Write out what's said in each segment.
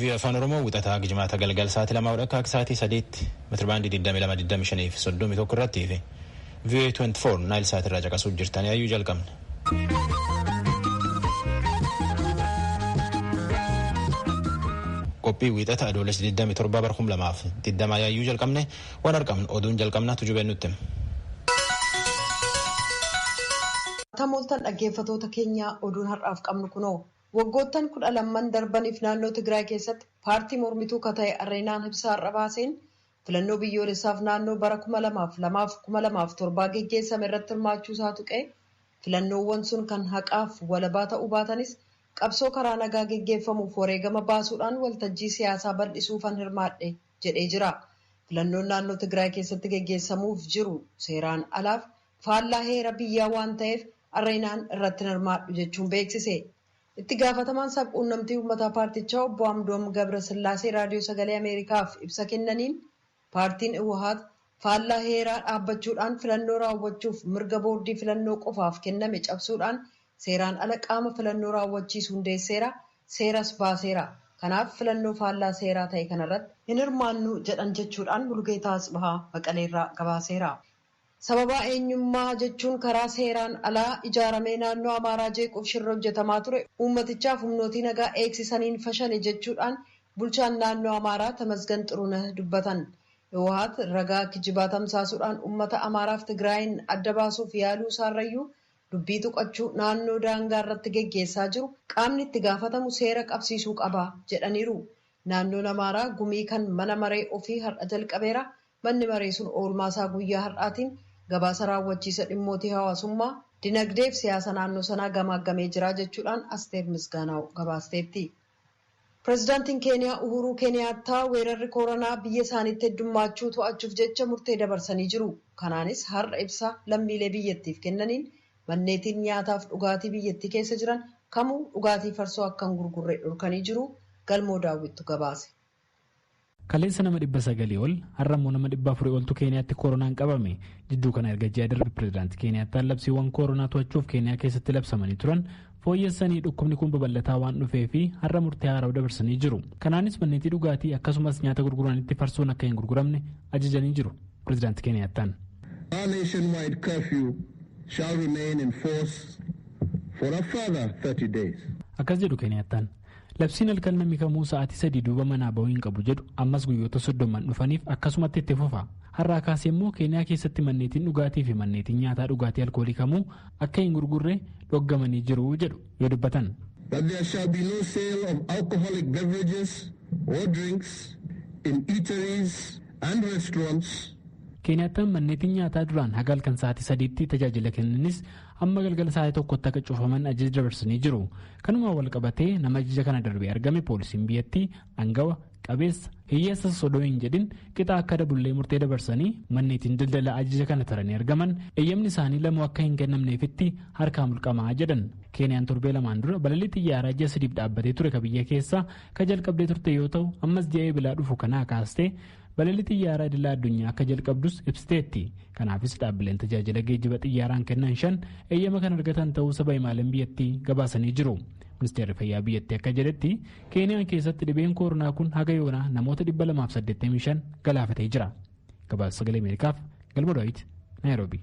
Vii'oo Afaan Oromoo wixataa Jimaata galgal sa'aatii lamaa hodha akka sa'aatii sadiitti metirbaandii 2225 fi 31 irratti fi vii'oo 24 naayil sa'aatii irraa caqasuuf jirtanii ayyuu jalqabna. Qophii wixata adoolessa 27 bara 2020 yaayyuu jalqabne Waan argamnu oduun jalqabna tujubeen nutti hima. Akkam ooltan dhaggeeffatoota keenyaa oduun har'aaf qabnu kunoo. Waggoottan kudha lamman darbaniif naannoo Tigraay keessatti paartii mormituu ka ta'e Areenaan ibsa har'a baaseen filannoo biyyoolessaaf naannoo bara kuma lamaaf lamaaf kuma lamaaf torbaa geggeessame irratti hirmaachuu isaa tuqee filannoowwan sun kan haqaaf walabaa ta'uu baatanis qabsoo karaa nagaa geggeeffamuuf wareegama baasuudhaan waltajjii siyaasaa bal'isuufan hirmaadhe jedhee jira. Filannoon naannoo Tigraay keessatti geggeessamuuf jiru seeraan alaaf faallaa heera biyyaa waan ta'eef Areenaan irratti hin hirmaadhu jechuun beeksise. Itti gaafatamaan sab-quunnamtii uummataa paartichaa obbo Amdoom Gabrasillaasee Raadiyoo Sagalee Ameerikaaf ibsa kennaniin paartiin Iwahaat faallaa heeraa dhaabbachuudhaan filannoo raawwachuuf mirga boordii filannoo qofaaf kenname cabsuudhaan Seeraan ala qaama filannoo raawwachiisu hundeesseera, seeras baaseera. Kanaaf filannoo faallaa seeraa ta'e kanarratti hin hirmaannu jedhan jechuudhaan Mulugeetaa Atsbahaa Maqaleerraa gabaaseera. Sababaa eenyummaa jechuun karaa seeraan alaa ijaaramee naannoo Amaaraa jeequuf shirri hojjetamaa ture uummatichaaf humnootii nagaa eegsisaniin fashale jechuudhaan bulchaan naannoo Amaaraa Tamasgan Xurunah dubbatan. Hiwohaat ragaa kijibaa tamsaasuudhaan uummata Amaaraaf Tigraayiin adda baasuuf yaaluu isaarrayyuu Dubbii tuqachuu naannoo daangaa irratti geggeessaa jiru qaamni itti gaafatamu seera qabsiisuu qaba jedhaniiru. Naannoon Amaaraa gumii kan mana maree ofii har'a jalqabeera. Manni maree sun oolmaa isaa guyyaa har'aatiin gabaasa raawwachiisa dhimmootii hawaasummaa, dinagdee fi siyaasa naannoo sanaa gamaaggamee jira jechuudhaan Asteer Misgaanaaw gabaasteetti. Pirezidaantiin Keeniyaa Uhuuruu Keeniyaattaa weerarri kooranaa biyya isaaniitti heddummaachuu to'achuuf jecha murtee dabarsanii jiru. Kanaanis har'a ibsa lammiilee biyyattiif kennaniin manneetiin nyaataaf dhugaatii biyyattii keessa jiran kamuu dhugaatii farsoo akka hin gurgurre dhorkanii jiru. Galmoo Daawwittu gabaase. Kaleessa nama 900 ol, har'a immoo nama 400 oltu Keeniyaatti koronaan qabame. Jidduu kana erga ji'a darbe pirezidaantii Keeniyaattaan labsiiwwan koronaa to'achuuf Keeniyaa keessatti labsamanii turan fooyyessanii dhukkubni kun babal'ataa waan dhufee fi har'a murtee haaraw dabarsanii jiru. Kanaanis manneetii dhugaatii akkasumas nyaata gurguranitti farsoon akka hin gurguramne ajajanii jiru pirezidaantii Keeniyaattaan. Our nationwide curfew shall remain in force for a further 30 days. Akkas jedhu Keeniyaattaan. Labsiin halkan namni kamuu sa'aatii sadii duuba manaa bahuu hin qabu jedhu ammas guyyoota soddoman dhufaniif akkasumatti itti fufa. Har'aa kaasee immoo Keeniyaa keessatti manneetiin dhugaatii fi manneetiin nyaataa dhugaatii alkoolii kamuu akka hin gurgurre dhoggamanii jiru jedhu yoo dubbatan. That there shall be no sale of alcoholic beverages or drinks in eateries and restaurants. Keeniyaattaan manneetiin nyaataa duraan haga halkan sa'aatii sadiitti tajaajila kennanis amma galgala sa'aatii tokkotti akka cufaman ajaja dabarsanii jiru kanumaan wal qabatee nama ajaja kana darbee argame poolisiin biyyattii angawa qabeessa hiyyeessa sodoo hin jedhin qixa akka dabullee murtee dabarsanii manneetiin daldala ajaja kana taranii argaman eeyyamni isaanii lamuu akka hin kennamneefitti harkaa mulqamaa jedhan keeniyaan torbee lamaan dura balalii xiyyaaraa ji'a sadiif dhaabbatee ture ka biyya keessaa ka jalqabdee turte yoo ta'u ammas ji'a eebilaa dhufu kanaa kaastee Balalii xiyyaaraa idila addunyaa akka jalqabdus ibsiteetti. Kanaafis dhaabbileen tajaajila geejjiba xiyyaaraan kennan shan eeyyama kan argatan ta'uu saba himaaleen biyyattii gabaasanii jiru. Ministeerri fayyaa biyyattii akka jedhetti Keeniyaan keessatti dhibeen kooronaa kun haga yoonaa namoota 285 galaafatee jira. Gabaasa sagalee Ameerikaaf Galma Daawit Naayiroobii.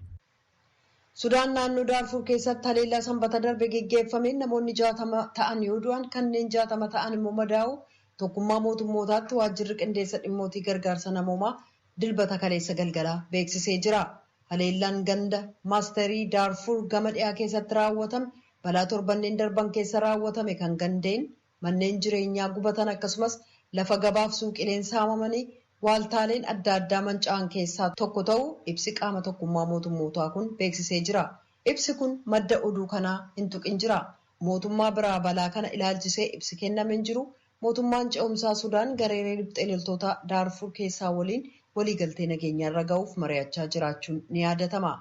Sudaan naannoo Daarfuur keessatti haleellaa Sanbata darbe geggeeffameen namoonni 60 ta'an yoo du'an kanneen 60 ta'an immoo madaa'uu Tokkummaa Mootummootaatti Waajjirri Qindeessa Dhimmootii Gargaarsa Namoomaa Dilbata kaleessa galgalaa beeksisee jira. Haleellaan ganda Maasterii Daarfuur gama dhiyaa keessatti raawwatame balaa torbanneen darban keessa raawwatame kan gandeen manneen jireenyaa gubatan akkasumas lafa gabaaf suuqileen saamamanii waaltaaleen adda addaa manca'an keessaa tokko ta'uu ibsi qaama tokkummaa mootummootaa kun beeksisee jira. Ibsi kun madda oduu kanaa hin tuqin jira. Mootummaa biraa balaa kana ilaalchisee ibsi kenname hin jiru. Mootummaan ce'umsaa Sudaan gareeree riphxee loltootaa Daarfuur keessaa waliin waliigaltee nageenyaarra ga'uuf mari'achaa jiraachuun ni yaadatama.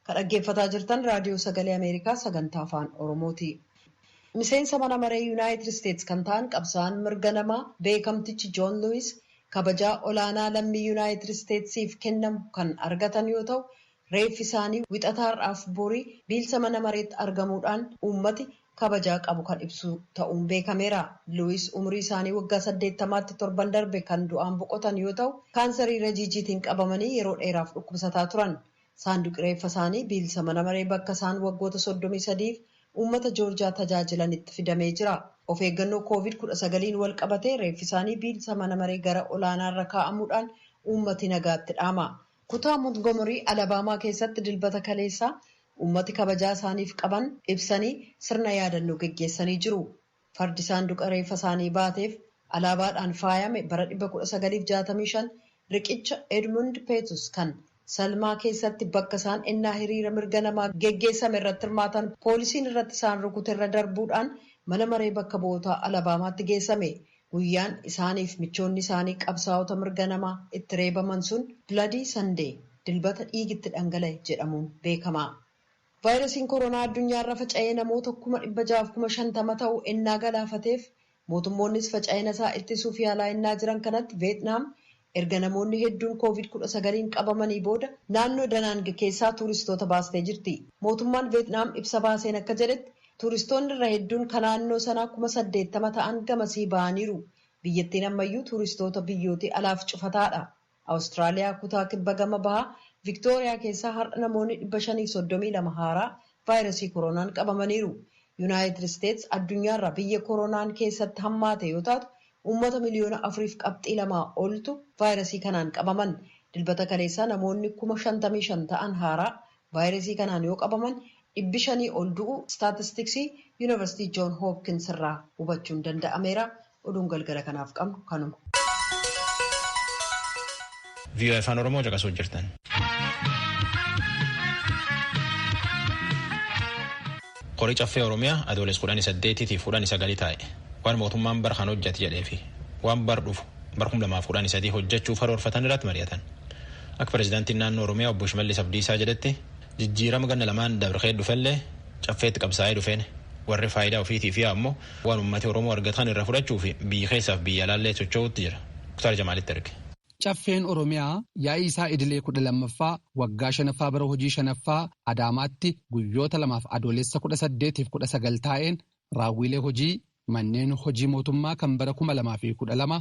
Ka dhaggeeffataa jirtan Raadiyoo Sagalee Ameerikaa Sagantaa Afaan Oromooti. Miseensa mana maree Yunaayitid Isteets kan ta'an qabsaa'aan mirga namaa beekamtichi Joon Luwiis kabajaa olaanaa lammii Yunaayitid Isteetsiif kennamu kan argatan yoo ta'u, reeffi isaanii Wixata har'aaf borii biilsa mana mareetti argamuudhaan uummati kabajaa qabu kan ibsu ta'uun beekameera. Luwiis umurii isaanii waggaa 80tti torban darbe kan du'aan boqotan yoo ta'u, kaansarii rajiijiitiin qabamanii yeroo dheeraaf dhukkubsataa turan. Saanduqi reeffa isaanii biilsa mana maree bakka isaan waggoota 33f uummata Joorjiyaa tajaajilanitti fidamee jira. Of eeggannoo Kooviid 19n wal qabatee reeffi isaanii biilsa mana maree gara olaanaa irra kaa'amuudhaan uummati nagaatti dhaama. Kutaa Montgomery, Alabama keessatti Dilbata kaleessaa uummati kabajaa isaaniif qaban ibsanii sirna yaadannoo geggeessanii jiru. Fardi saanduqa reeffa isaanii baateef alaabaadhaan faayame bara 1965 riqicha Edmund Pettus kan Selma keessatti bakka isaan ennaa hiriira mirga namaa geggeessame irratti hirmaatan poolisiin irratti isaan rukute irra darbuudhaan mana maree bakka bu'ootaa Alabaamaatti geessame. Guyyaan isaaniif michoonni isaanii qabsaa'ota mirga namaa itti reebaman sun Bloody Sunday, Dilbata dhiigi itti dhangala'e, jedhamuun beekama. Vaayirasiin koronaa addunyaarra faca'ee namoota kuma dhibba ja'aaf kuma shantama ta'u ennaa galaafateef mootummoonnis faca'ina isaa ittisuuf yaalaa ennaa jiran kanatti Veetnaam erga namoonni hedduun Kooviid kudha sagaliin qabamanii booda naannoo Danaang keessaa tuuristoota baastee jirti. Mootummaan Veetnaam ibsa baaseen akka jedhetti tuuristoonni irra hedduun ka naannoo sanaa kuma saddeettama ta'an gamasii ba'aniiru. Biyyattiin ammayyuu tuuristoota biyyootii alaaf cufataadha. Awustiraaliyaa kutaa kibba gama bahaa Viktooriyaa keessaa har'a namoonni 532 haaraa vaayrasii koroonaan qabamaniiru. Yunaayitid Isteets addunyaarraa biyya koroonaan keessatti hammaate yoo taatu uummata miliyoona 4f qabxii 2 oltu vaayrasii kanaan qabaman. Dilbata kaleessaa namoonni 55,000 ta'an haaraa vaayrasii kanaan yoo qabaman dhibbi shanii ol du'uu istaatistiksii Yunivarsitii Joon Hoopkins irraa hubachuun danda'ameera. Oduun galgala kanaaf qabnu kanuma. VOA Afaan Oromoo caqasuu jirtan. Qorii caffee Oromiyaa adooles kudhan saddeetii fi kudhan sagalii taa'e waan mootummaan bara kan hojjate jedhee fi waan bar dhufu bara kuma lamaaf kudhan sadii hojjechuuf haroorfatan irratti mari'atan. Akka pirezidaantiin naannoo Oromiyaa obbo Shimallis Abdiisaa jedhetti jijjiirama ganna lamaan dabree dhufellee caffeetti qabsaa'ee dhufeen warri faayidaa ofiitiif yaa ammoo Waan ummati Oromoo argataan irra fudhachuuf biyyi keessaaf biyya alaallee socho'uutti jira. Muktaar Jamaalitti erge. Caffeen Oromiyaa yaa'ii isaa idilee 12ffaa waggaa 5ffaa bara hojii 5ffaa Adaamaatti guyyoota lamaaf Adoolessa 18 fi 19 taa'een raawwiilee hojii manneen hojii mootummaa kan bara 2012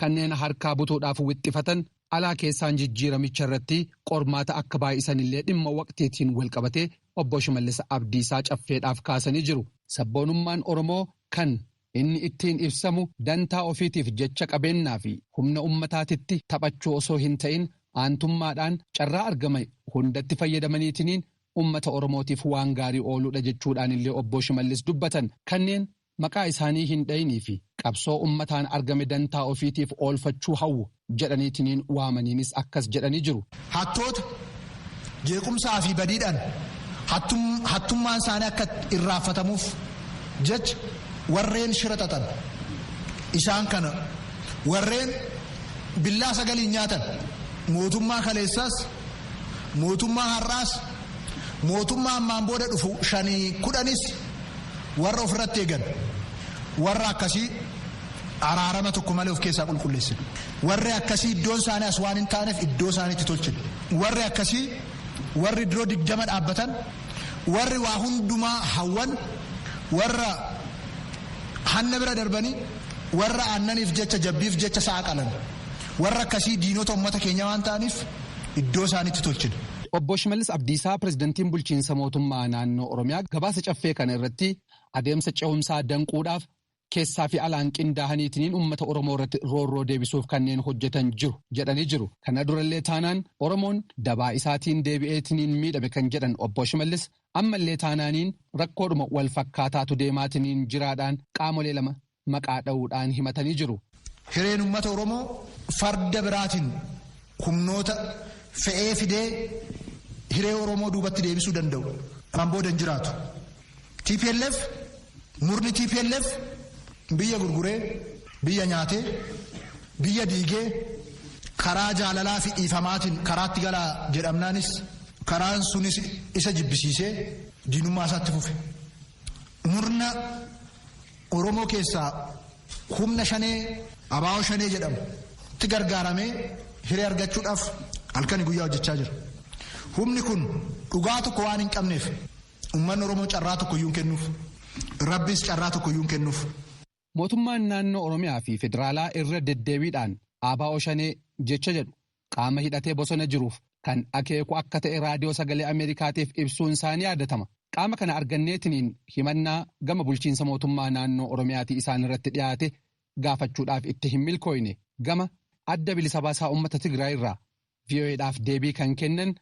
Kanneen harkaa butuudhaaf wixxifatan alaa keessaan jijjiiramicha irratti qormaata akka baay'isan illee dhimma waqtiitiin walqabatee Obbo Shimallis Abdiisaa Caffeedhaaf kaasanii jiru. Sabboonummaan Oromoo kan inni ittiin ibsamu dantaa ofiitiif jecha qabeennaa fi humna ummataatitti taphachuu osoo hin ta'in aantummaadhaan carraa argama hundatti fayyadamaniitiniin ummata Oromootiif waan gaarii ooluudha jechuudhaan illee Obbo Shimallis dubbatan. Kanneen maqaa isaanii hin dhayinii fi qabsoo ummataan argame dantaa ofiitiif oolfachuu hawwu jedhaniitiniin waamaniinis akkas jedhanii jiru. Hattoota, jeequmsaa fi badiidhaan hattummaan isaanii akka irraanfatamuuf jecha warreen shira xaxan isaan kana warreen billaa sagaliin nyaatan mootummaa kaleessaas Mootummaa har'aas, mootummaa ammaan booda dhufu shanii kudhanis warra ofirratti eegan warra akkasii araarama tokko malee of keessaa qulqulleessina. Warri akkasii iddoon isaanii as waan hin taaneef iddoo isaaniitti tolchina. Warri akkasii warri diroo digdama dhaabbatan warri waa hundumaa hawwan warra hanna bira darbanii warra aannaniif jecha jabbiif jecha sa'a qalan. Warra akkasii diinota ummata keenyaa waan ta'aniif iddoo isaanitti tolchina. Obbo Shimallis Abdiisaa Pireezidantiin Bulchiinsa Mootummaa Naannoo Oromiyaa gabaasa caffee kana irratti adeemsa cehumsaa danquudhaaf keessaa fi alaan qindaahaniitiniin uummata Oromoo irratti roorroo deebisuuf kanneen hojjetan jiru jedhanii jiru. Kana durallee taanaan Oromoon dabaa isaatiin deebi'eetiniin miidhame kan jedhan Obbo Shimallis ammallee taanaaniin rakkoodhuma wal fakkaataatu deemaatiniin jiraadhaan qaamolee lama maqaa dha'uudhaan himatanii jiru. Hireen ummata Oromoo farda biraatiin humnoota fe'ee fidee hiree Oromoo duubatti deebisuu danda'u kan booda hin jiraatu. TPLF murni TPLF biyya gurguree biyya nyaatee biyya diigee karaa jaalalaa fi dhiifamaatiin karaatti galaa jedhamnaanis karaan sunis isa jibbisiisee diinummaa isaatti fufe. Murna Oromoo keessaa humna shanee abaa'oo shanee jedhamu itti gargaaramee hiree argachuudhaaf halkanii guyyaa hojjechaa jira. Humni kun dhugaa tokko waan hin qabneef uummanni Oromoo carraa tokkoyyuu hin kennuuf. Rabbiis carraa tokkoyyuu hin kennuuf. Mootummaan naannoo Oromiyaa fi federaalaa irra deddeebiidhaan abaa'oo shanee jecha jedhu qaama hidhatee bosona jiruuf kan akeeku akka ta'e raadiyoo sagalee Ameerikaatiif ibsuun isaa ni yaadatama. Qaama kana arganneetiniin himannaa gama bulchiinsa mootummaa naannoo Oromiyaatii isaan irratti dhiyaate gaafachuudhaaf itti hin milkooyne gama adda bilisa baasaa uummata Tigraay irraa VOA'dhaaf deebii kan kennan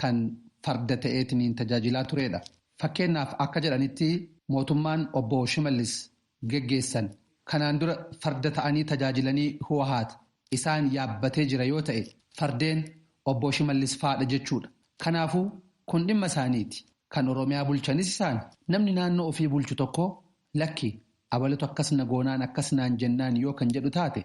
kan farda ta'eetiniin tajaajilaa tureedha. Fakkeennaaf akka jedhanitti mootummaan Obbo Shimallis geggeessan kanaan dura farda ta'anii tajaajilanii Huwahaat isaan yaabbatee jira yoo ta'e fardeen Obbo Shimallis faadha jechuudha. Kanaafuu kun dhimma isaaniiti. Kan Oromiyaa bulchanis isaani. Namni naannoo ofii bulchu tokko lakki abalatu akkas na goonaan akkas naan jennaan yoo kan jedhu taate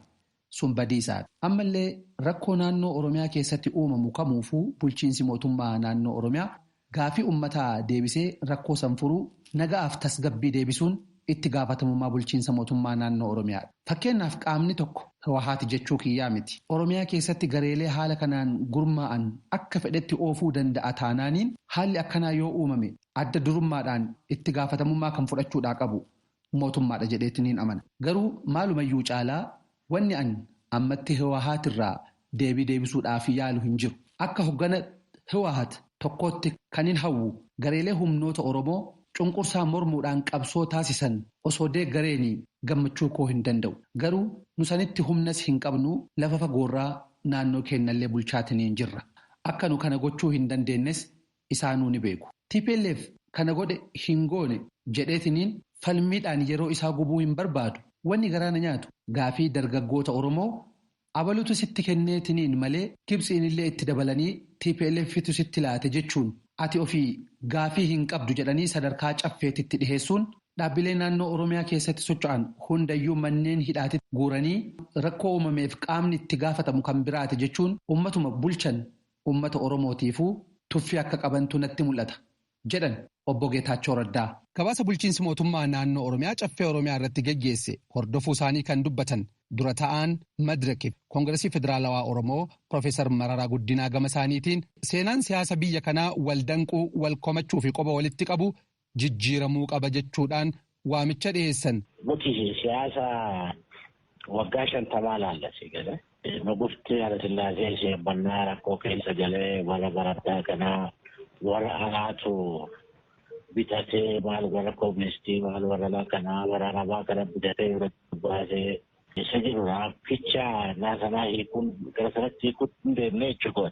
Sun badiisaadha. Ammallee rakkoo naannoo Oromiyaa keessatti uumamu kamuufuu bulchiinsi mootummaa naannoo Oromiyaa gaaffii ummataa deebisee rakkoo san furuu, naga'aaf tasgabbii deebisuun itti gaafatamummaa bulchiinsa mootummaa naannoo Oromiyaadha. Fakkeennaaf qaamni tokko, Hiwahaati jechuu kiyyaa miti, Oromiyaa keessatti gareelee haala kanaan gurmaa'an akka fedhetti oofuu danda'a taanaaniin haalli akkanaa yoo uumame adda durummaadhaan itti gaafatamummaa kan fudhachuudhaa qabu mootummaadha jedheeti niin amana. Garuu maalumayyuu caalaa wanni an ammatti Hiwahaat irraa deebii deebisuudhaaf yaalu hin jiru. Akka hoggana Hiwahaat tokkootti kanin hawwu gareelee humnoota Oromoo cunqursaa mormuudhaan qabsoo taasisan osoo deeggareenii gammachuu koo hin danda'u. Garuu nu sanitti humnas hin qabnu lafa fagoorraa naannoo keennallee bulchaatiniin jirra. Akka nu kana gochuu hin dandeennes isaanuu ni beeku. Tplf kana godhe hin goone jedheetiniin falmiidhaan yeroo isaa gubuu hin barbaadu. Wanni garaa na nyaatu gaafii dargaggoota Oromoo abalutu sitti kenneetiniin malee Gibtsiinillee itti dabalanii TPLFtu sitti laate jechuun ati ofii gaafii hin qabdu jedhanii sadarkaa caffeetitti dhiheessuun dhaabbilee naannoo Oromiyaa keessatti socho'an hundayyuu manneen hidhaatitti guuranii rakkoo uumameef qaamni itti gaafatamu kan biraati jechuun ummatuma bulchan uummata Oromootiifuu tuffii akka qabantu natti mul'ata, jedhan Obbo Geetaachoo Raddaa. Gabaasa bulchiinsi mootummaa naannoo Oromiyaa Caffee Oromiyaa irratti geggeesse hordofuu isaanii kan dubbatan dura ta'aan Madrak fi Kongirasii Federaalawaa Oromoo Pirofeesar Mararaa Guddinaa gama isaaniitiin, seenaan siyaasa biyya kanaa wal danquu, wal komachuu fi qoba walitti qabuu jijjiiramuu qaba jechuudhaan waamicha dhiheessan. Nuti siyaasa waggaa shantamaa ilaalla sii galee. Nugufti Hayilasillaasee sheebbannaa rakkoo keessa galee warra barattaa kanaa warra alaatu bitatee maal warra koministii maal warra alaa kanaa warra arabaa kana bitatee irratti baasee isa jirudha. Ficha naasanaa hiikuun gara sanatti hiikuun hin deemne jechuudha.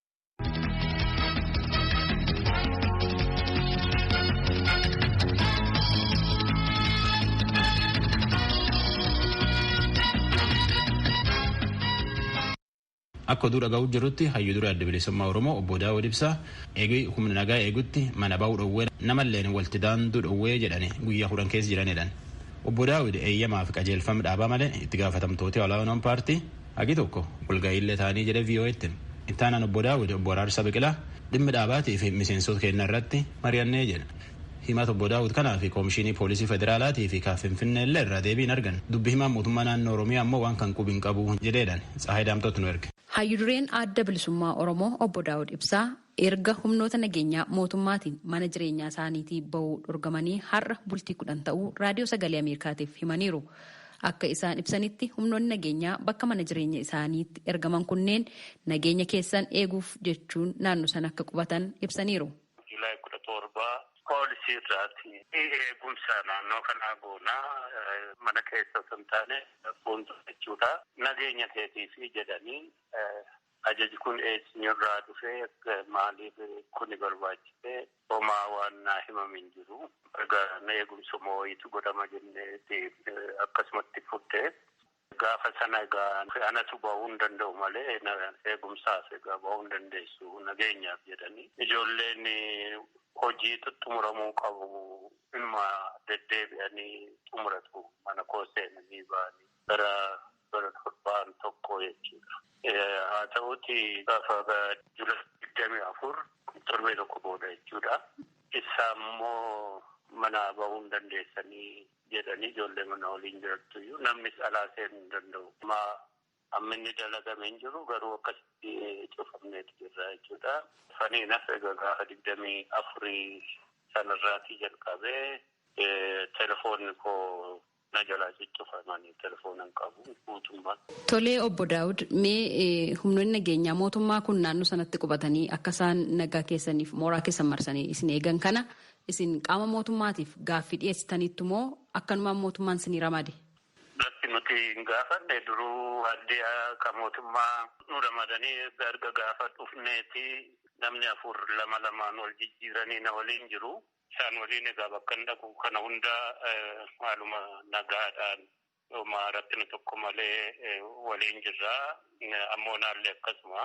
Akka oduu dhaga'uu jirrutti hayyuu dura adda bilisummaa Oromoo obbo Daawud Ibsaa eegee humna nagaa eegutti mana ba'uu dhowwee namalleen walti daanduu dhowwee jedhani guyyaa kudhan keessa jiranidhan. Obbo Daawud eeyyamaa fi qajeelfama dhaabaa malee itti gaafatamtooti olaanoon paartii Hagi tokko walga'iillee taanii jedhe VOAtti hime. Itti aanaan obbo Daawud obbo Araarsaa Biqilaa dhimmi dhaabaatii fi miseensoota keennaa irratti mari'annee jedhe. Himata obbo Daawud kanaa fi Koomishiinii Poolisii Federaalaatii fi ka Finfinneellee irraa deebii hin arganne. Dubbi himaan mootummaa naannoo Oromiyaa ammoo waan kan qubi hin qabu jedheedhaan Tsahaay Daamxootu nu erge. Hayyu dureen Adda Bilisummaa Oromoo obbo Daawud Ibsaa Erga humnoota nageenyaa mootummaatiin mana jireenyaa isaaniitii ba'uu dhorgamanii har'a bultii kudhan ta'uu Raadiyoo Sagalee Ameerikaatiif himaniiru. Akka isaan ibsanitti humnoonni nageenyaa bakka mana jireenya isaaniitti ergaman kunneen nageenya keessan eeguuf jechuun naannoo sana akka qubatan ibsaniiru. July kudha torba poolisii irraati eegumsa naannoo kanaa goona mana keessa osoo hin taane fuuldura jechuudha. Nageenya keetiifi jedhanii Ajaji kun eesnyrraa dhufe? Maaliif kuni barbaachise? Homaa waan naa himame hin jiru. Egaa na eegumsuma wayiitu godhama jenneeti akkasumatti fudhe. Gaafa sana egaa anatu bahuu hin danda'u malee eegumsaaf egaa bahuu hin dandeessu nageenyaaf jedhanii. Ijoolleen hojii xuxxumuramuu qabu inuma deddeebi'anii xumuratu mana koo seenanii ba'anii. Gara bara torbaan tokkoo jechuudha. Haa ta'uuti gaafa July digdamii afur torbee tokko booda jechuudha. Issaa immoo manaa bahuu hin dandeessanii jedhanii ijoollee mana waliin jirattu iyyuu namnis alaa seenuu hin danda'u. Ammaa hamminni dalagame hin jiru garuu akkasitti cufamneeti jirra jechuudha. Saniin hafe egaa gaafa digdamii afurii sanarraatii jalqabee telefoonni koo Na jalaa ciccufa mani telefoona hin qabu guutummaatti. Tolee obbo Daawud mee humnoonni nageenyaa mootummaa kun naannoo sanatti qubatanii akka isaan nagaa keessaniif mooraa keessan marsanii isin eegan kana isin qaama mootummaatiif gaaffii dhiyeessitaniittu moo akkanumaan mootummaan isinii ramade? Lakki nuti hin gaafanne duruu addeeya ka mootummaa nu ramadanii erga erga gaafa dhufneeti namni afur lama lamaan wal jijjiiranii na waliin jiru. Isaan waliin egaa bakkan dhaqu kana hunda haaluma nagaadhaan homa rakkina tokko malee waliin jirra. Ammoonaallee akkasuma.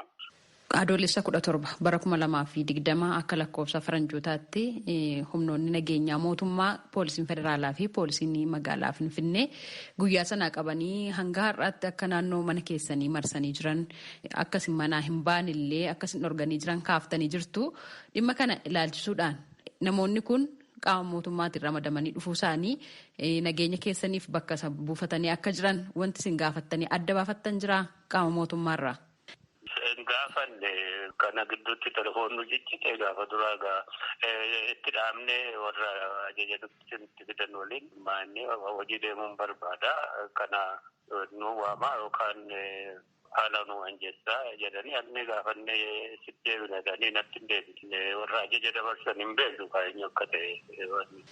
Adoolessa 17 bara 2020 akka lakkoofsa faranjootaatti humnoonni nageenyaa mootummaa poolisiin federaalaa fi poolisiin magaalaa Finfinnee guyyaa sanaa qabanii hanga har'aatti akka naannoo mana keessanii marsanii jiran akkasin manaa hin baanillee akkasin dhorganii jiran kaaftanii jirtu. Dhimma kana ilaalchisuudhaan namoonni kun qaama mootummaatiin ramadamanii dhufuu isaanii nageenya keessaniif bakka isa buufatanii akka jiran wanti isin gaafattanii adda baafattan jira qaama mootummaarraa? Hin gaafanne kana gidduutti telefoonni ciccite gaafa duraa egaa itti dhaabnee warra ajaja dubbisuun itti fidan waliin maannee hojii deemuun barbaada kana nu waamaa yookaan Haala nuu anjessaa jedhanii alnee gaafannee sitti deebina jedhanii natti hin deebisne. Warra ajaja dabarsan hin beeknu kaa eenyu akka ta'e wanni.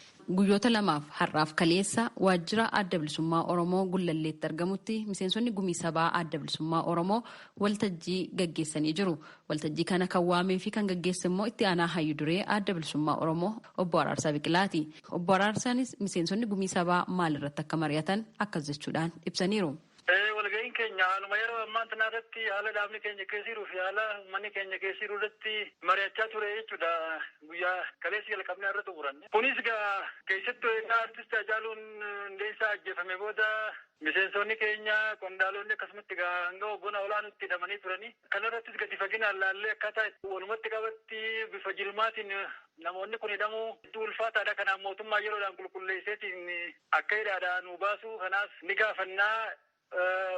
Guyyoota lamaaf har'aaf kaleessa waajjira Adda Bilisummaa Oromoo Gullalleetti argamutti miseensonni Gumii Sabaa Adda Bilisummaa Oromoo waltajjii gaggeessanii jiru. Waltajjii kana kan waamee fi kan gaggeesse immoo itti aanaa hayyu duree Adda Bilisummaa Oromoo Obbo Araarsaa Biqilaati. Obbo Araarsaanis miseensonni Gumii Sabaa maalirratti akka mari'atan akkas jechuudhaan ibsaniiru. Ee, walga'iin keenya haaluma yeroo ammaa tanaa irratti, haala dhaabni keenya keessa jiruu fi haala ummanni keenya keessa jiru irratti mari'achaa ture jechuu dha. Guyyaa kaleessa jalqabnee har'a xumuranne. Kunis egaa keessattuu egaa Artist Haacaaluun Hundeessaa ajjeefame booda miseensoonni keenya, qondaalonni akkasumatti egaa hanga hoggana olaanuutti hidhamanii turanii. Kana irrattis gadi faginaan laallee akkaataa itti walumatti qabatti bifa jilmaatiin namoonni kun hidhamuu hedduu ulfaataadha. Kanaaf mootummaan yeroodhaan qulqulleesseetiin akka hidhaadhaa nuu baasuu kanaas ni gaafannaa.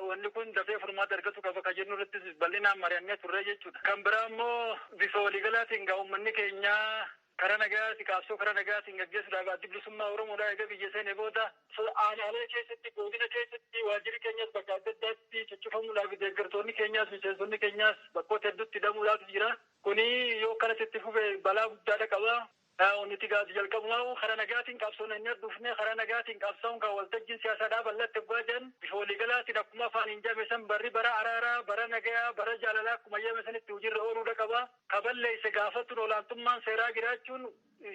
Wanni kun dafee furmaata argatu qaba kan jennu irrattis bal'inaan mari'annee turree jechuudha. Kan biraa immoo bifa waliigalaatiin egaa uummanni keenya Karaa nagayaati qaabsoo karaa nagayaatiin gaggeessuudhaaf Addi Bilisummaa Oromoodhaa eega biyya seene booda, aanaalee keessatti, goodina keessatti waajjirri keenyas bakka adda addaatti cuccufamuudhaafi deeggartoonni keenyaas, miseensonni keenyaas bakkoota hedduutti hidhamuudhaatu jira. Kuni yoo akkanatti itti fufe balaa guddaa dhaqaba. Nuti gaa jalqabumaahuu karaa nagayaatiin qabsoona hennee dhufne, karaa nagayaatiin qabsaa'uun kaa waltajjiin siyaasaa dhaaba allaatti oggaa jedhan, bifa waliigalaatiin akkuma afaaniin jedhame san barri bara araaraa, bara nagayaa, bara jaalalaa akkuma jedhame sanitti hujiirra ooluudha qaba. ka balleesse gaafachuun olaantummaan seeraa jiraachuun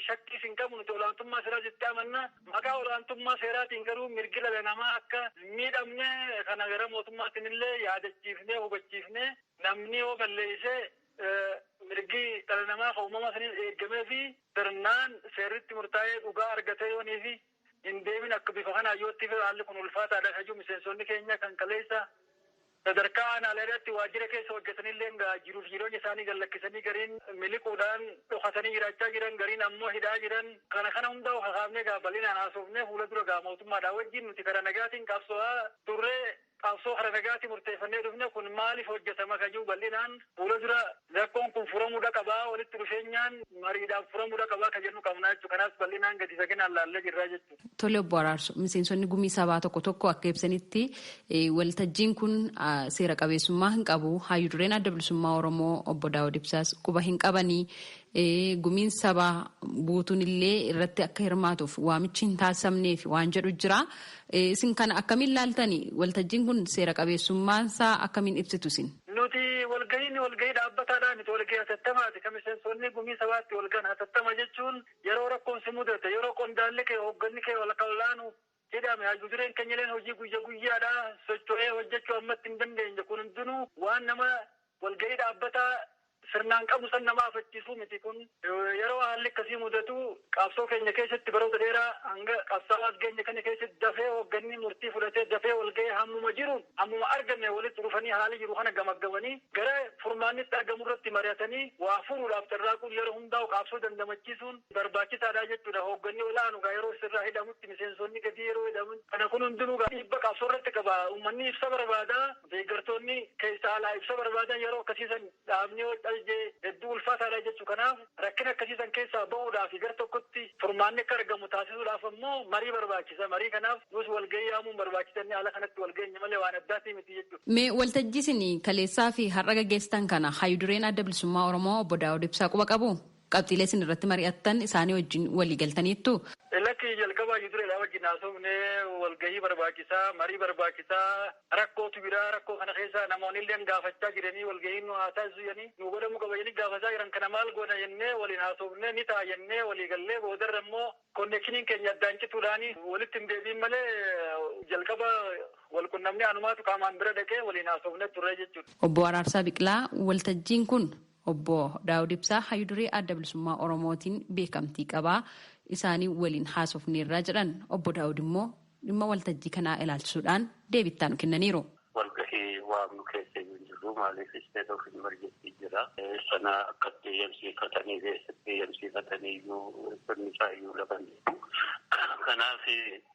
shakkiis hin qabu nuti olaantummaa seeraa jettee amanna maqaa olaantummaa seeraatiin garuu mirgi dhala namaa akka hin miidhamne kana gara mootummaatiin illee yaadachiifnee hubachiifne namni yoo balleesse mirgi dhala namaa ka uumama saniin eeggameefi sirnaan seerri itti murtaa'ee dhugaa argatee yooniifi hin deemin akka bifa kanaan yoo itti fufe haalli kun ulfaataadha kan jedhu miseensonni keenya kan kaleessa sadarkaa aanaaleerratti waajjira keessa hojjetanilleen egaa jiruuf jireenya isaanii gad lakkisanii gariin miliquudhaan dhokatanii jiraachaa jiran gariin ammoo hidhaa jiran kana kana hundaa'u kakaafnee egaa bal'inaan haasofnee fuula dura egaa mootummaadhaa wajjin nuti karaa nagaatiin qabsoo'aa turre. Qabsoo kara nagaatii murteeffannee dhufne kun maaliif hojjatama kan jedhu bal'inaan fuula dura rakkoon kun furamuudha qaba, walitti dhufeenyaan mariidhaan furamuudha qaba kan jennu qabna jechuudha. Kanaas bal'inaan gadi faginaan laallee jirra jechuudha. Tole Obbo Araarsoo, miseensonni gumii sabaa tokko tokko akka ibsanitti waltajjiin kun seera qabeessummaa hin qabu, haayyu dureen Adda Bilisummaa Oromoo Obbo Daawud Ibsaas quba hin qabanii Gumiin sabaa guutuun illee irratti akka hirmaatuuf waamichi hin taasifamneef waan jedhu jira. Isin kana akkamiin ilaaltani? Waltajjiin kun seera qabeessummaan isaa akkamiin ibsitu isin? Nuti walgahiin walgahii dhaabbataadhaa miti. Walgahii hatattamaati. Kan miseensonni gumii sabaa itti walgahan hatattama jechuun yeroo rakkoon si mudate, yeroo qondaalli kee, hoogganni kee, ol'aanu jedhame hayyu dureen kenyaleen hojii guyya guyyaadha socho'ee hojjachuu ammatti hin dandeenye kun hundinuu waan nama walga'ii dhaabbataa sirnaan qabnu san nama afachiisuu miti kun yeroo haalli akkasii mudatu qabsoo keenya keessatti baroota dheeraa hanga qabsaa'aa as geenye kana keessatti dafee hoogganni murtii fudhatee dafee walga'ee hammuma jiruun hammuma arganne walitti dhufanii haala jiru kana gamaggamanii gara furmaannitti argamu irratti mari'atanii waa furuudhaaf carraaquun yeroo hundaa'u qaabsoo dandamachiisuun barbaachisaadha jechuudha. Hoogganni ol'aanu egaa yeroo sirraa hidhamutti miseensonni gadii yeroo hidhaman kana kun hundinuu egaa dhiibba qabsoo irratti qaba. Ummanni ibsa barbaada. Deeggartoonni keessa alaa ibsa barbaadan yeroo akkasii san dhaabni yoo calje hedduu ulfaataadha jechu. Kanaaf rakkina akkasii san keessaa bahuudhaafi gar tokkotti furmaanni akka argamu taasisuudhaaf ammoo marii barbaachisa. Marii kanaaf nuus walgahii yaamuun barbaachisa jennee haala kanatti wal geenye malee waan addaatii miti jechu. Mee waltajjii isin kaleessaafi har'a gaggeessitan kana Hayyu Dureen Adda Bilisummaa Oromoo Obbo Daawud Ibsaa quba qabuu? Qabxiilee isin irratti mari'attan isaanii wajjin walii galtaniittuu? Lakki, jalqaba hayyu dureedhaa wajjin haasofnee walgahii barbaachisaa, marii barbaachisaa, rakkootu jira, rakkoo kana keessa namoonilleen gaafachaa jiranii walgahiin nuu haa taasisu jedhanii nuu godhamuu qaba jedhanii gaafataa jiran kana maal goona jennee waliin haasofnee ni ta'a jennee walii gallee boodarra immoo konnekshiniin keenya addaan cituudhaan walitti hin deebi'in malee jalqaba wal qunnamnee anumaatu qaamaan bira dhaqee waliin haasofnee turree jechuudha. Obbo Araarsaa Biqilaa, Waltajjiin kun Obbo Daawud Ibsaa Hayyu Duree Adda Bilisummaa Oromootiin beekamtii qaba. Isaanii waliin haasofneerra jedhan. Obbo Daawud immoo dhimma waltajjii kanaa ilaalchisuudhaan deebii itti aanu kennaniiru. Walgahii waamnu keessa iyyuu hin jirru. Maaliif state of emergency jira. Sana akka itti eeyyamsiifatanii fi eessatti eeyyamsiifatanii iyyuu sirni isaa iyyuu lafa hin jiru. Kanaaf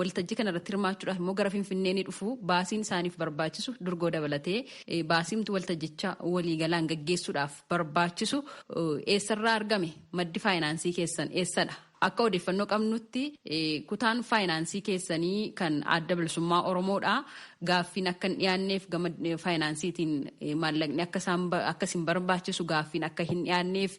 Waltajjii kana irratti hirmaachuudhaaf immoo gara Finfinnee ni dhufu. Baasiin isaaniif barbaachisu durgoo dabalatee baasiimtu waltajjicha waliigalaan gaggeessuudhaaf barbaachisu eessarraa argame? Maddi faayinaansii keessan eessadha? Akka odeeffannoo qabnutti kutaan faayinaansii keessanii kan adda bilisummaa Oromoodha. Gaaffiin akka hin dhiyaanneef gama faayinaansiitiin maallaqni akka isin barbaachisu gaaffiin akka hin dhiyaanneef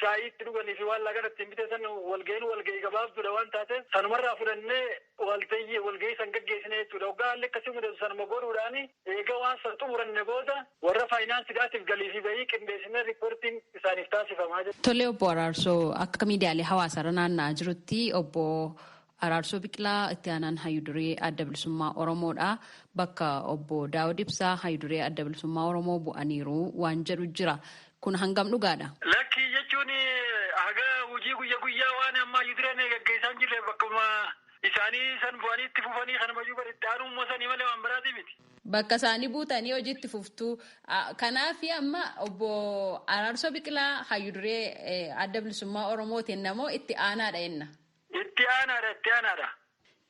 shaayii itti dhuganii fi waan laaqana ittiin bitan san walgahiin walgahii gabaabduudha waan taateef sanumarraa fudhannee waltayyi walgahii san gaggeessina jechuudha. Hoggaa haalli akkasii mudatu sanuma godhuudhaan eega waan san xumuranne booda warra faayinaansidhaatiif galii fi bahii qindeessinee riippoortiin isaaniif taasifama. Tole Obbo Araarsoo, akka miidiyaalee hawaasaarra naanna'aa jirutti Obbo Araarsoo Biqilaa itti aanaan hayyu duree Adda Bilisummaa Oromoo dha. Bakka obbo Daawud Ibsaa hayyu duree Adda Bilisummaa Oromoo bu'aniiru waan jedhu jira. Kun hangam dhugaadha? Lakkii jechuun haga hojii guyya guyyaa waan amma hayyu dureen gaggeessaa hin jirreef bakkuma isaanii san bu'anii itti fufanii kanuma iyyuu bar itti aanuu immoo sanii malee waan biraatii miti. Bakka isaanii buutanii hojii itti fuftu. Kanaaf amma obbo Araarsoo Biqilaa hayyu duree Adda Bilisummaa Oromootiin namoo itti aanaadha jenna. Itti aanaadha itti aanaadha.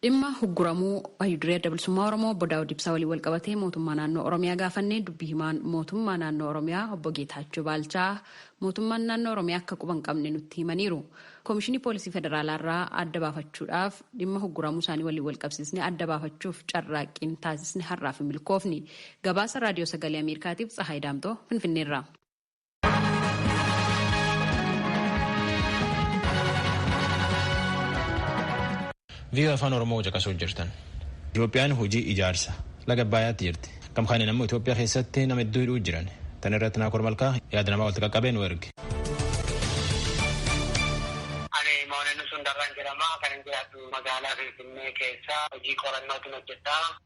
Dhimma hugguramuu Hayyu Duree Adda Bilisummaa Oromoo Obbo Daawud Ibsaa waliin walqabatee mootummaa naannoo Oromiyaa gaafannee dubbi himaan mootummaa naannoo Oromiyaa Obbo Geetaachoo Baalchaa mootummaan naannoo Oromiyaa akka quba hin qabne nutti himaniiru. Koomishinii Poolisii Federaalaa irraa adda baafachuudhaaf dhimma hugguramuu isaanii waliin walqabsiisnee adda baafachuuf carraaqqiin taasisne har'aaf hin milkoofne. Gabaasa Raadiyoo Sagalee Ameerikaatiif Tsahaay Daamxoo Finfinneerraa. Viiyoo afaan Oromoo caqasuu jirtan. Itoophiyaan hojii ijaarsa laga Abbaayaatti jirti. Kam kaaniin ammoo Itoophiyaa keessatti nama hedduu hidhuu jiran. Tan irratti Naakoor Malkaa yaada namaa walitti qaqqabee nu erge. Ani Mooneen Sundarraan jedhama. Kan hin jiraatu magaalaa Finfinnee keessa hojii qorannootiin hojjedha.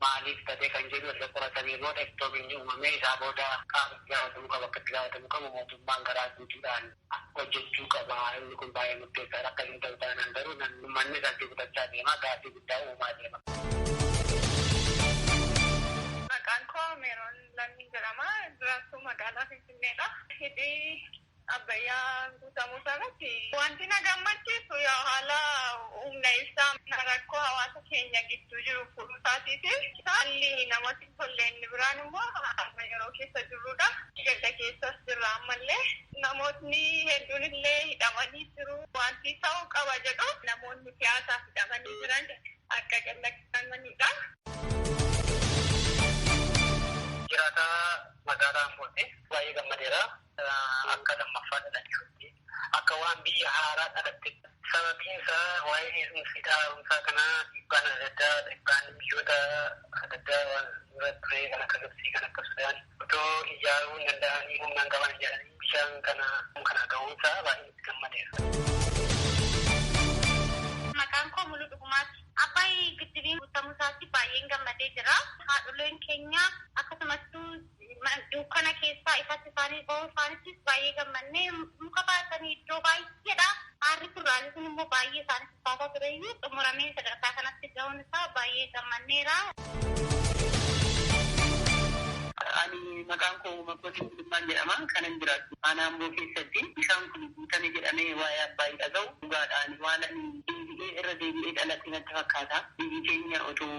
maaliif badee kan jedhu erga qoratanii booda ittoo binni uumamee isaa booda qaamni itti gaafatamuu qabu akka itti gaafatamuu qabu mootummaan garaa guutuudhaan hojjechuu qaba inni kun baay'ee murteessaadha akkas hin ta'u taanaan garuu namni ummanni irratti gudachaa deema gaaffii guddaa uumaa deema. Maqaan koo Meeroon Lammiin jedhama. Jiraattuu magaalaa Finfinneedha. Hidhi Abbayyaan guutamuu irratti wanti na gammachiisu yaa haala humna ibsaa rakkoo hawaasa keenya gidduu jiru furuu isaatiifi haalli namatti hin tolle inni biraan immoo amma yeroo keessa jirrudha. Gadda keessas jirra ammallee namootni hedduun illee hidhamanii jiru. Wanti ta'uu qaba jedhu namoonni siyaasaaf hidhamanii jiran akka gadhiifamanidha. Jiraataa magaalaa Ambootti baay'ee gammadeera. Akka lammaffaa dhalachuutti, akka waan biyya haaraa dhalattetti. Sababiin isaa waa'een heerumsa hidha haaromsaa kanaa dhiibbaan adda addaa, dhiibbaan biyyoota adda addaa waan dura ture kan akka Gibtsii, kan akka Sudaan otoo ijaaruu hin danda'anii humna hin qaban jedhanii bishaan kana kana ga'uun isaa baay'een itti gammadeera. Maqaan koo Muluu Dhugumaati. Abbaay giddibiin guutamuu isaatti baay'een gammadee jira. Haadholeen keenya akkasumattuu Dukkana keessaa ifatti isaanii ba'uu isaanittis baay'ee gammanne. Muka baatanii iddoo baay'eedhaa aarri furraanii sun immoo baay'ee isaanii ulfaataa ture iyyuu xumuramee sadarkaa kanatti ga'uun isaa baay'ee gammanneera. Ani maqaan koo Makkootiin Gulummaan jedhama. Kanan jiraadhu Aanaa Amboo keessatti. Bishaan kun guutame jedhamee waa'ee Abbaay dhaga'u dhugaadha. Ani waan ani deebi'ee irra deebi'ee dhaladhe natti fakkaata. Biyyi keenya otoo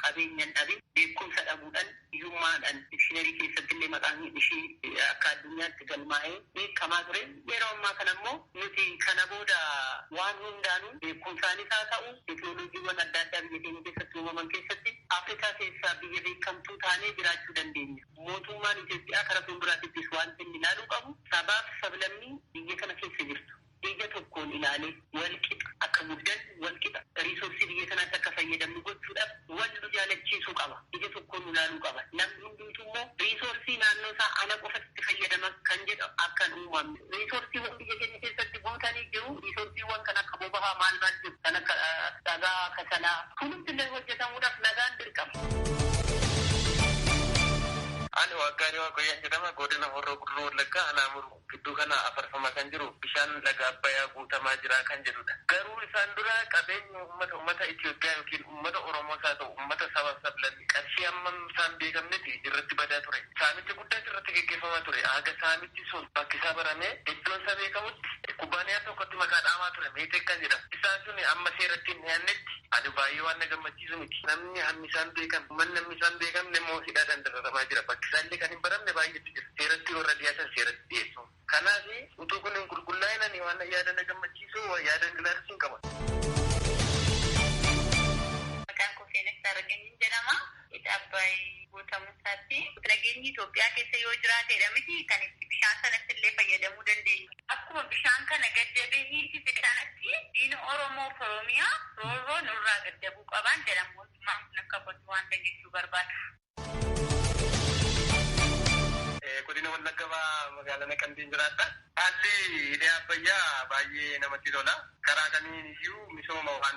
qabeenya hin dhabin beekumsa dhabuudhan Hiyyummaadhaan dikshiinarii keessatti illee maqaan ishii akka addunyaatti galmaa'ee beekamaa ture. Yeroo ammaa kana immoo nuti kana booda waan hundaanuu beekumsaanis haa ta'u teknolojiiwwan adda addaa biyya keenya keessatti uumaman keessatti Afrikaa keessaa biyya beekamtuu taanee jiraachuu dandeenya. Mootummaan Itoophiyaa kara fuulduraatittis waanti inni ilaaluu qabu sabaaf sablammii biyya kana keessa jirtu. ija tokkoon ilaalee wal qixa akka guddannu, wal qixa riisoorsii biyya kanaatti akka fayyadamnu gochuudhaaf wal nu jaalachiisuu qaba. Ija tokkoon nu laaluu qaba. Namni hundumtuu immoo riisoorsii naannoo isaa ana qofatu itti fayyadama kan jedhu akka hin uumamne. Riisoorsiiwwan biyya keenya keessatti guutanii jiru. Riisoorsiiwwan kan akka boba'aa maal maal jiru. Kan akka dhagaa, kasalaa hundumti illee hojjetamuudhaaf nagaan dirqama. Ani Waaqaariyaa Waaqoyyaan jedhama. Godina Horroo Guduruu Wallaggaa Anaa Muruu. Gidduu kana afarfamaa kan jiru bishaan laga Abbayaa guutamaa jira kan jedhudha. Garuu isaan dura qabeenyi uummata uummata Itoophiyaa ykn uummata Oromoos haa ta'u uummata sabaaf sablammii qarshii hammam isaa hin beekamnetti irratti badaa ture. Saamicha guddaas irratti geggeeffamaa ture. Haga saamichi sun bakkisaa baramee iddoon isaa beekamutti kubbaaniyaa tokkotti maqaa dhaamaa ture Meeteek kan jedhamu. Isaan sun amma seeratti hin dhiyaannetti ani baay'ee waan na gammachiisu. barsiisu miti. Namni hammi isaa hin beekamne, ummanni hammi isaa hin beekamne immoo hidhaadhaan dararamaa jira. Bakki isaa illee kan hin baramne baay'eetu jira. Seeratti warra dhiyaatan seeratti dhiyeessuun. Kanaaf utuu kun hin qulqullaa'in ani waan yaada na gammachiisu yaadan ilaalchin qaba. Maqaan koo Seenessaa Rageenyiin jedhama. Hidha Abbaay guutamu. Taassi, Lageenyi Itoophiyaa keessa yoo jiraateedha miti kan itti bishaan sanatti illee fayyadamuu dandeenyu. Akkuma bishaan kana gaddabee hiisise sanatti diina Oromoo fi Oromiyaa roorroo nurraa gaddabuu qabaan jedhan mootummaan kun akka kottu waan san jechuu barbaada. Godina Wallagga Bahaa Magaalaa Naqamteen jiraadha. Haalli hidhi Abbayyaa baay'ee namatti tola. Karaa kamiin iyyuu misooma waan